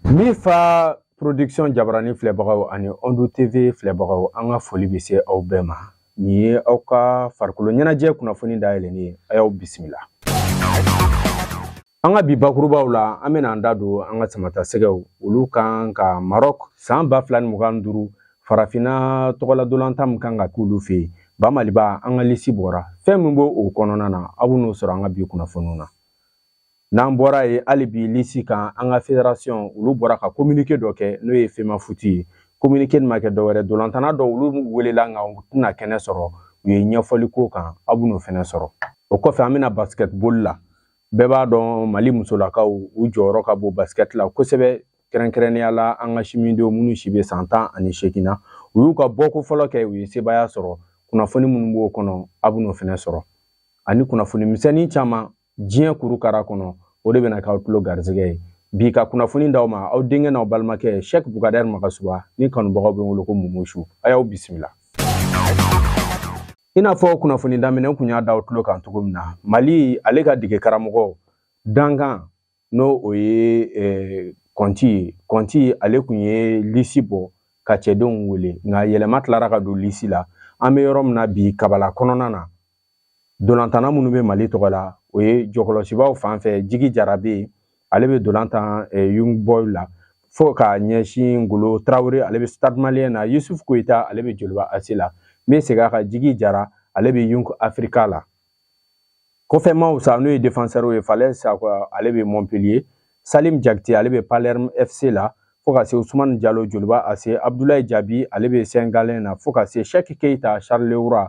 Mifa porodiksiyɔn jabarani filɛbagaw ani ɔndo tv filɛbagaw an ka foli bɛ se aw bɛɛ ma nin ye aw ka farikolo ɲɛnajɛ kunnafoni dayɛlɛlen ye a y'aw bisimila An ka bi bakurubaw la an bɛna an da don an ka samata sɛgɛw olu kan ka Maroc san ba fila ni mugan duuru farafinna tɔgɔla dolantan min kan ka k'olu fɛ yen ba maliba an ka lisi bɔra fɛn min b'o kɔnɔna na aw bɛ n'o sɔrɔ an ka bi kunnafoniw na n'an bɔra yen hali bi lisi kan an ka federasiyɔn olu bɔra ka kominike dɔ kɛ n'o ye femafuti ye kominike nin ma kɛ dɔwɛrɛ dolantana dɔw olu welela nka u tɛna kɛnɛ sɔrɔ u ye ɲɛfɔli k'o kan aw bɛ n'o fɛnɛ sɔrɔ o kɔfɛ an bɛ na basketball la bɛɛ b'a dɔn mali musolakaw u jɔyɔrɔ ka bon basikɛti la kosɛbɛ kɛrɛnkɛrɛnnenya la an ka simidenw minnu si bɛ san tan ani seegin na u y'u ka bɔko fɔlɔ kɛ u ye sebaaya sɔrɔ kunnafoni minnu b'o kɔnɔ aw b'o fana sɔrɔ ani kunnafoni misɛnnin caman diɲɛ kuru kara kɔnɔ o de bɛna k'aw tulo garisɛgɛ ye bi ka kunnafoni d'aw ma aw denkɛ n'aw balimakɛ sɛki bugadari magasuba ni kanubagaw bɛ wele ko mumusu a y'aw bisimila i n'a fɔ kunnafoni daminɛ n kun y'a d'aw tulo kan cogo min na mali ale ka dege karamɔgɔ dankan n'o ye eh, kɔnti ye kɔnti ale kun ye lisi bɔ ka cɛdenw wele nka yɛlɛma tilara ka don lisi la an bɛ yɔrɔ min na bi kabala kɔnɔna na dolantana minnu bɛ mali tɔgɔ la o ye jɔkɔlɔsibaw fan fɛ jigi jara bɛ yen ale bɛ dolantan yung boy la fo ka ɲɛsin ngolo tarawele ale bɛ stade malien na yusuf koyita ale bɛ joliba ase la n bɛ segin a kan jigi jara ale bɛ yung afrika la kɔfɛmaaw sa n'o ye defenseur ye falayi sakɔ ale bɛ montpellier salim jakite ale bɛ palerme fc la fo ka se usumani jalo joliba ase abdulayi jabi ale bɛ sengalen na fo ka se shɛki keyita charleroi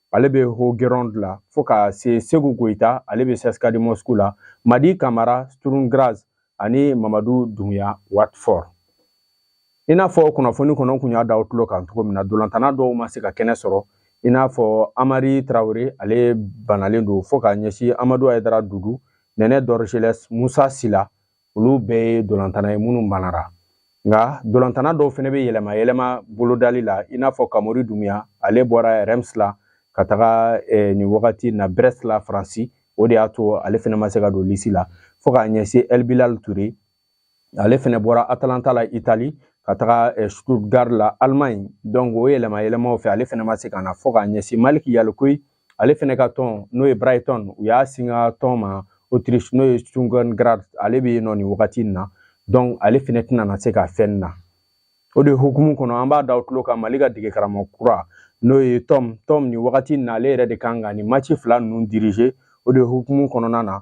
ale bɛ haugesund la fo ka se seku koyita ale bɛ sɛsika de mosku la amadi kamara sturm graz ani mamadu dumuya watford i n'a fɔ kunnafoni kɔnɔ kun y'a d'aw tulo kan cogo min na dolantana dɔw ma se ka kɛnɛ sɔrɔ i n'a fɔ amari tarawele ale banalen don fo ka ɲɛsin amadu ayidara dudu nɛnɛ dorgeles musa sila olu bɛɛ ye dolantana ye minnu banara nka dolantana dɔw fana bɛ yɛlɛma yɛlɛma bolodali la i n'a fɔ kamori dumuya ale bɔra reims la ka taga eh, nin wagati na brest la faransi o de y'a to ale fana ma se ka don lisi la fo k'a ɲɛsin el bilal ture ale fana bɔra atalanta la itali ka taga eh, stuttgart la allemagne donc o yɛlɛma yɛlɛmaw fɛ ale fana ma se ka na fo k'a ɲɛsin maliki yalikuye ale fɛnɛ ka tɔn n'o ye brighton u y'a singa tɔn ma autriche n'o ye sturm graz ale bɛ yen nɔ nin wagati in na donc ale fɛnɛ tɛna na se ka fɛn na o de hukumu kɔnɔ an b'a d'aw tulo kan mali ka dege karamɔgɔ kura n'o ye tɔm tɔm nin wagati in na ale yɛrɛ de kan ka nin maci fila ninnu dirige o de hukumu kɔnɔna na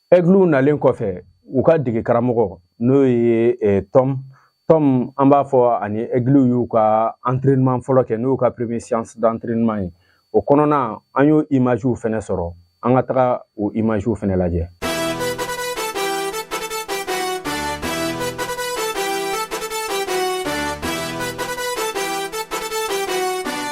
ɛgiliw nalen kɔfɛ u ka dege karamɔgɔ n'o ye eh, tɔm tɔm an b'a fɔ ani ɛgiliw y'u ka entraînement fɔlɔ kɛ n'o y'u ka premier séance d'entraînement ye o kɔnɔna an y'o imagew fɛnɛ sɔrɔ an ka taga o imagew fɛnɛ lajɛ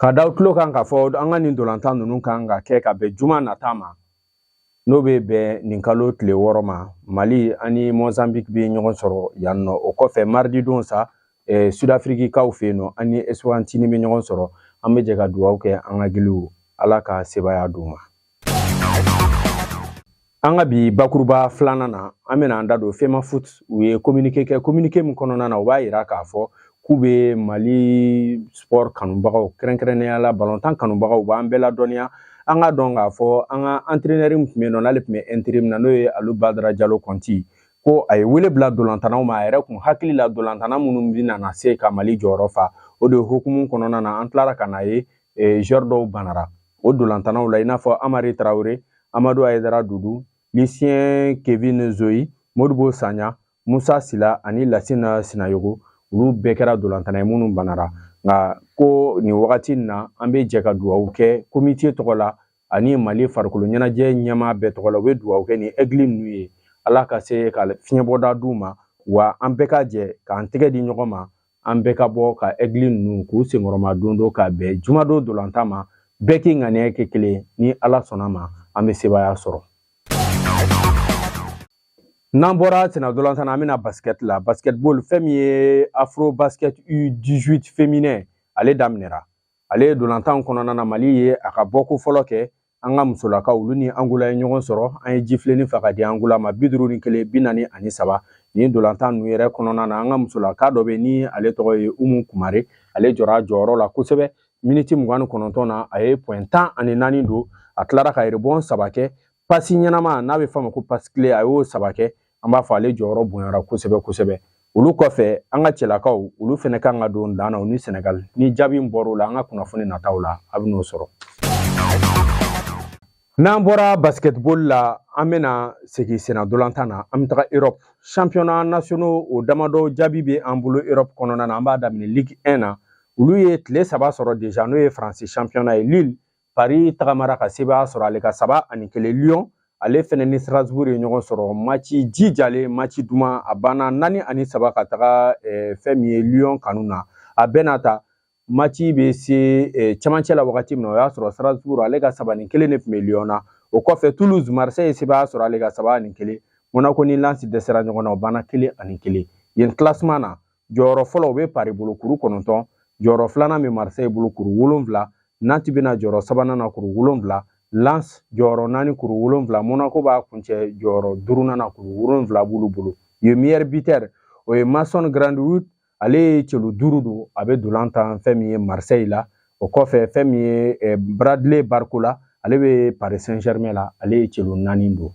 K'a d'aw tulo kan k'a fɔ an ka nin dolantan ninnu kan ka kɛ ka bɛn juma nata ma n'o bɛ bɛn nin kalo tile wɔɔrɔ ma mali ani mozambique bɛ ɲɔgɔn sɔrɔ yan nɔ o kɔfɛ marididon sa eh, sudafirikikaw fɛ yen nɔ an ni eswatini bɛ ɲɔgɔn sɔrɔ an bɛ jɛ ka dugawu kɛ an ka ɛgiliw ala ka sebaya d'u ma An ka bi bakuruba filanan na an bɛna an da don FEMAFOOT u ye communiqué kɛ communiqué min kɔnɔna na u b'a jira k'a fɔ k'u bɛ Mali sport kanubagaw kɛrɛnkɛrɛnnenya la balontan kanubagaw u b'an bɛɛ ladɔnniya an k'a dɔn k'a fɔ an ka entraîneur min tun bɛ yen nɔ n'ale tun bɛ interim na n'o ye Alu Badara Jalo Kɔnti ko a ye wele bila dolantanaw ma a yɛrɛ kun hakili la dolantana minnu bɛ na se ka Mali jɔyɔrɔ fa o de hukumu kɔnɔna na an tilara ka n'a ye eh, joueur dɔw banara o dolantanaw la i n'a fɔ amari traoré amadu ayedara dudu lisiyɛn kevin zoyi modibo sanya musa sila ani lasina sinayogo olu bɛɛ kɛra dolantana ye minnu banara nka ko nin wagati in na an bɛ jɛ ka dugawu kɛ komite tɔgɔ la ani mali farikolo ɲɛnajɛ ɲɛmaa bɛɛ tɔgɔ la u bɛ dugawu kɛ nin ɛgili ninnu ye ala ka se ka fiɲɛbɔda d'u ma wa an bɛɛ ka jɛ k'an tɛgɛ di ɲɔgɔn ma an bɛɛ ka bɔ ka ɛgili ninnu k'u senkɔrɔmadondon ka bɛn jumadon dolantan ma bɛɛ k'i ŋaniya kɛ kelen ni ala sɔnna ma an bɛ sebaaya sɔrɔ n'an bɔra senna dolantan na an bɛ na basket la basketball fɛn min ye afro basket u 18 féminin ale daminɛra ale dolantan kɔnɔna na mali ye a ka bɔko fɔlɔ kɛ an ka musolakaw olu ni angola ye ɲɔgɔn sɔrɔ an ye jifilenin fa k'a di angola ma bi duuru ni kelen bi naani ani saba nin dolantan ninnu yɛrɛ kɔnɔna na an ka musolaka dɔ bɛ ni ale tɔgɔ ye umu kumare ale jɔra a jɔyɔrɔ la kosɛbɛ miniti mugan ni kɔnɔntɔn na a ye pɔɛn tan ani naani don a tilara ka rebɔn saba kɛ pasi ɲɛnama n'a bɛ f'a ma ko passe clé a y'o saba kɛ an b'a fɔ ale jɔyɔrɔ bonyara kosɛbɛ kosɛbɛ olu kɔfɛ an ka cɛlakaw olu fɛnɛ kan ka don dan na u ni sɛnɛgali ni jaabi min bɔr'o la an ka kunnafoni nataw la a bɛn'o sɔrɔ n'an bɔra basketball la an bɛna segin senna dolantan na an bɛ taga europe championnat nationaux o damadɔ jaabi bɛ an bolo europe kɔnɔna na an b'a daminɛ ligue 1 na olu ye tile saba sɔrɔ deja n'o ye faransi championnat ye lille Paris tagamara ka sebaaya sɔrɔ ale ka saba ani kelen Lyon ale fɛnɛ ni Strasbourg ye ɲɔgɔn sɔrɔ maci jijalen maci duman a banna naani ani saba ka taga eh, fɛn min ye Lyon kanu na a bɛɛ n'a ta maci bɛ se eh, cɛmancɛ la wagati min na o y'a sɔrɔ Strasbourg ale ka saba ni kelen de tun bɛ Lyon na o kɔfɛ Toulouse Marseille ye sebaaya sɔrɔ ale ka saba ani kelen Monaco ni Lens dɛsɛra ɲɔgɔn na o banna kelen ani kelen yen classement na jɔyɔrɔ fɔlɔ o bɛ paris bolo kuru kɔnɔntɔn jɔyɔrɔ filanan bɛ marseille bolo kuru wolonwula nantes bɛna jɔyɔrɔ sabanan na kuru wolonwula lens jɔyɔrɔ naani kuru wolonwula monaco b'a kuncɛ jɔyɔrɔ duurunan na kuru wolonwula b'olu bolo yen meilleur buteur o ye mason greenwood ale ye celu duuru don a bɛ dolantan fɛn min ye marseille la o kɔfɛ fɛn min ye eh, bradley barcola ale bɛ paris saint germain la ale ye celu naani don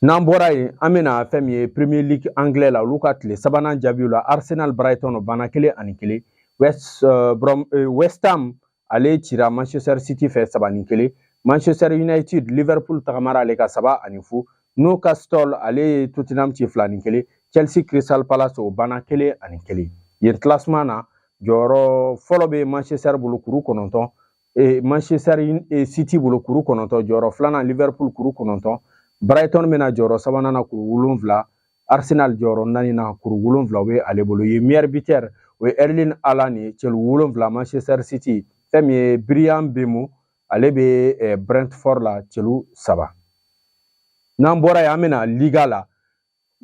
n'an bɔra yen an bɛna fɛn min ye premier league anglais la olu ka tile sabanan jaabiw la arsenal brighton o banna kelen ani kelen west uh, brom, uh, west ham ale cira manchester city fɛ saba ni kelen manchester united liverpool tagamara ale ka saba ani fu newcastle ale ye tottenham ci fila ni kelen chelsea crystal palace o banna kelen ani kelen yen classement na jɔyɔrɔ fɔlɔ bɛ manchester bolo kuru kɔnɔntɔn e, Manchester e, City bolo kuru kɔnɔntɔn jɔyɔrɔ filanan Liverpool kuru kɔnɔntɔn Brighton bɛna jɔyɔrɔ sabanan na kuru wolonwula Arsenal jɔyɔrɔ naani na kuru wolonwula o bɛ ale bolo yen meilleur buteur o ye Erling Haaland ye celu wolonwula Manchester City fɛn min ye Bryan Mbeumo ale bɛ e, Brentford la celu saba n'an bɔra yen an bɛna Liga la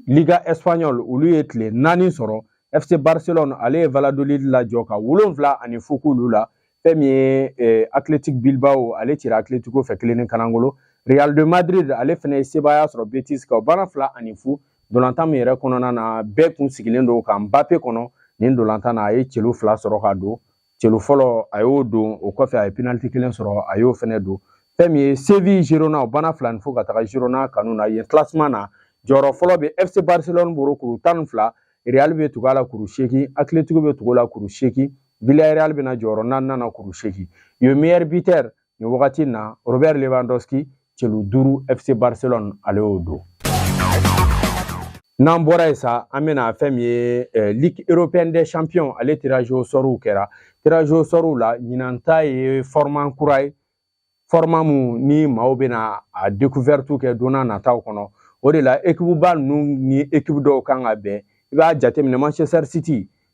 Liga Espagnol olu ye tile naani sɔrɔ FC Barcelone ale ye Valladolid lajɔ ka wolonwula ani fu k'olu la fɛn min ye eh, Athletic Bilbao ale cira Atletico fɛ kelen ni kanangolo Real de Madrid ale fɛnɛ ye sebaaya sɔrɔ Betis kan o banna fila ani fu dolantan min yɛrɛ kɔnɔna na bɛɛ kun sigilen don ka Mbappe kɔnɔ nin dolantan na a ye celu fila sɔrɔ ka don celu fɔlɔ a y'o don o kɔfɛ a ye penaliti kelen sɔrɔ a y'o fɛnɛ don fɛn min ye séville girona o banna fila ni fu ka taga girona kanu na yen classement na jɔyɔrɔ fɔlɔ bɛ fc barcelone bolo kuru tan ni fila real bɛ tugu a la kuru seegin atletico bɛ tugu la kuru seegin villarreal bɛna jɔyɔrɔ naaninan na kuru seegin yen meilleur buteur nin wagati in na robert lewandowski celu duuru fc barcelone ale y'o don n'an bɔra yen sa an bɛna fɛn min ye eh, ligue européenne des champions ale tirage au sɔriw kɛra tirage au sɔriw la ɲinan ta ye format kura ye format mun ni maaw bɛna a découverte kɛ don n'a nataw kɔnɔ o de la ekipuba ninnu ni ekipu dɔw kan ka bɛn i b'a jateminɛ manchester city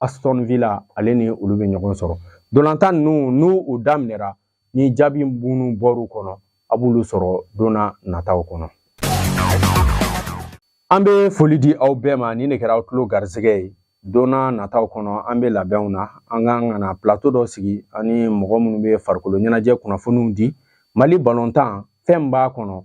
Aston Villa ale ni olu bɛ ɲɔgɔn sɔrɔ ntolatan ninnu n'u u daminɛra ni jaabi minnu bɔr'u kɔnɔ a b'olu sɔrɔ don na nataw kɔnɔ an bɛ foli di aw bɛɛ ma nin de kɛra aw tulo garisɛgɛ ye don na nataw kɔnɔ an bɛ labɛnw na an ka kan ka na plato dɔ sigi ani mɔgɔ minnu bɛ farikolo ɲɛnajɛ kunnafoniw di Mali balontan fɛn b'a kɔnɔ